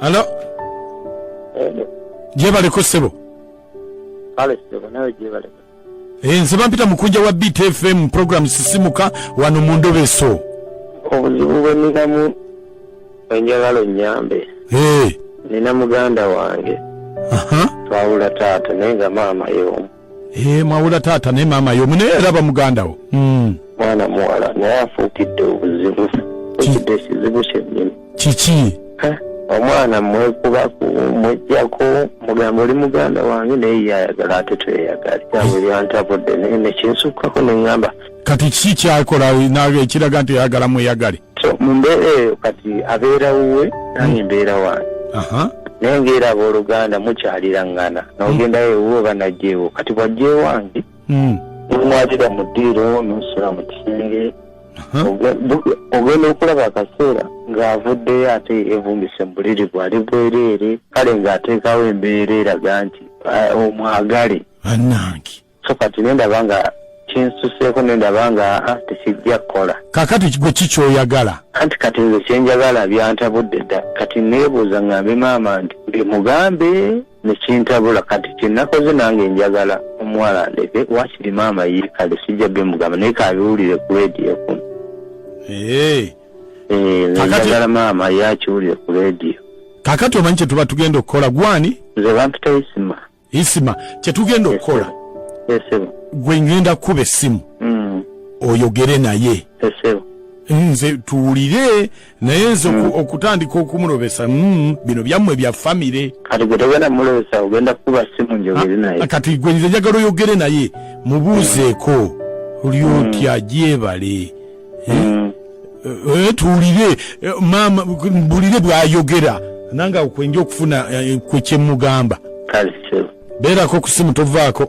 Hello? Hello. Jebaleko sebo. Kale sebo nawe jebaleko. Eh, nze bampita mukunja wa Beat FM program sisimuka wano mu ndobe so. Obuzibu bwe nikamu enjagalo nyambe. Eh. Nina muganda wange. Aha. Uh -huh. Twawula taata naye nga maama yeomu. Eh, mwawula taata naye maama yomu naye era bamugandawo hmm. mwana muwala naye afuukidde obuzibu ekidde ekizibu kyennyini kiki omwana mwekubaku mwejjako mugamba oli muganda wange naye yayagala ate tweyagala kyabwe eh. byantabudde naye nekinsukkako neŋŋamba kati kiki kyakola nawe ekiraga nti oyagala mweyagale so mu mbeera eyo kati abeera wuwe nange mbeera wange aha naye ngaera abooluganda mukyalira ngana nogendayo ewuwe oba najja ewo kati bwajja ewange Mm. nomwalira mu ddiiro nosula mu kisenge aha Oge- bu- ogenda okulaba akaseera ng'avuddeyo ate evumbise mu buliri bwali bwereere kale ng'ateekawo embeera eraga nti ah, omwagale bannange so kati nendaba nga kinsuseeko nendaba nga ah, tekijja kukola kakati gwe ki kyoyagala anti kati nze kyenjagala byantabudde dda kati neebuuza ngambe maama nti bimugambe nekintabula kati kyenakoze nange njagala omuwala ndeke wakiri maama ye kale sijja bimugamba naye kabiwulire ku rediyo kuno eh, njagala maama ye akiwulire ku rediyo kakati omanyi kyetuba tugenda okukola gwani nze bampita isima isima kyetugenda okukola gwe ngenda kukuba essimu mm. oyogere naye nze tuwulire naye nze mm. okutandika okumulobesa mm, bino byammwe bya famire kati gwe nze njagala oyogere naye mubuuzeeko oli otya gyebale eh, eh, eh, tuwulire maama bulire bwayogera nange awo kwenja okufuna kwe kyemugamba beerako ku simu tovaako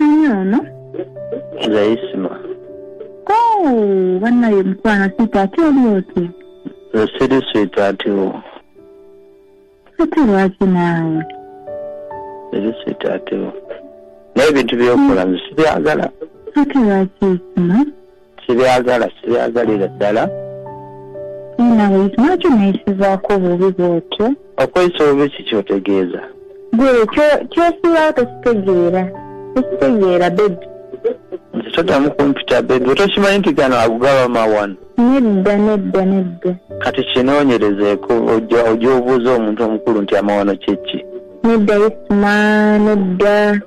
ani ono nze isima Oh, banaye mukwano sweet ate oli otya nze siri swiiti atiwo ate lwaki naawe siri swiiti atiwo naye ebintu byokola nze sibyagala ate lwaki isima sibyagala sibyagalira ddala nawe lwaki oneyisizaako obubi bwotyo okweyisa obubi kikyotegeeza gwe kyosuulawo tokitegeera tokitegeera bebi nze todamu kumpita bebi otokimanyi nti gano agugaba mawano nedda nedda nedda kati kinoonyerezeeko ojja obuuza omuntu omukulu nti amawano kyekki nedda isma nedda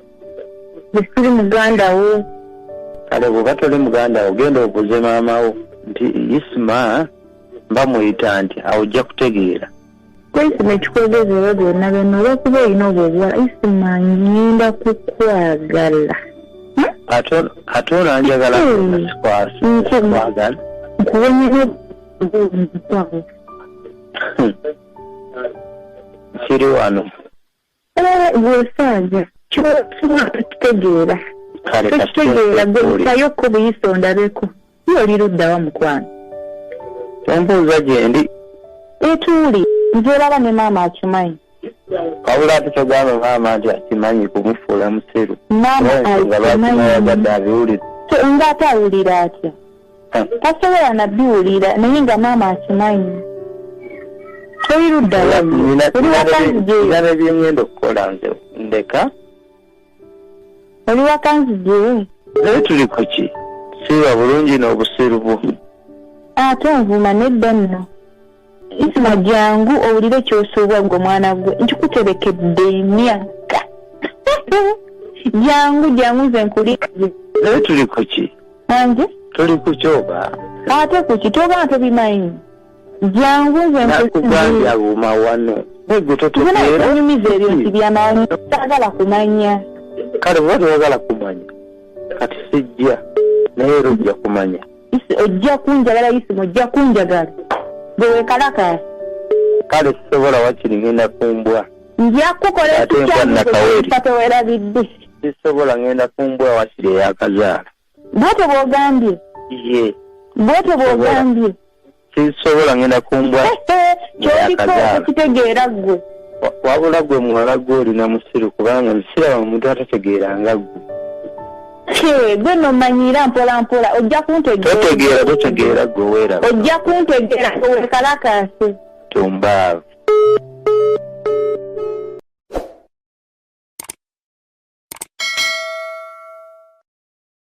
bwesiri muganda wo kale bwoba toli muganda wo genda obuze maama wo nti isma mba muyita nti awo ojja kutegeera kwekino ekikwogezeewo byonna byonna olwokuba olina obwo obuwala isma ngenda kukwagala ate olanjagala sikwagala nkuwenyera kiri wano gwesaaja kyotuwa tekitegeera tekitegeera gwetayo ko buyisa ondabeko ye oli luddawa mukwano ombuuza gyendi etuuli nzeraba ne maama akimanyi wabula ati kyogamba maama nti akimanyi kumufuula musiru maama akimanyi ngaate awulira atya tasobola nabiwulira naye nga maama akimanyi toyiruddalabyengenda okukola nze ndeka oli wakanzije naye tuli kuki siba bulungi n'obusiru bwo ate nvuma nedda nno isima jangu owulire kyosuubwa gwe omwana gwe nkikuterekedde emyaka jangu jangu nze nkuli naye tuli kuki ange tuli kuki oba ate kuki toba tobimanyi jangu nze nkugambya buma wano egutotunyumiza ebyo nti byamanyi sagala kumanya kale oba tewagala kumanya kati sijja naye era ojja kumanya ojja kunjagala yisima ojja kunjagala gwe wekalakala kale sisobola wakiri ngenda kumbwa nja kukola ekikyaatewelabidde sisobola ngenda kumbwa wakiri eyakazaala bwete bwogambye ye bwete bwogambye sisobola ngenda kumbwa kitegeera ggwe wabula gwe muwala gwe olina musiru kubanga nzisiraba omuntu atategeera nga ggwe gwe nomanyira mpola mpola ojja kuntegeera totegeera gwe weera ojja kuntegeera wekalakasi tumbaavu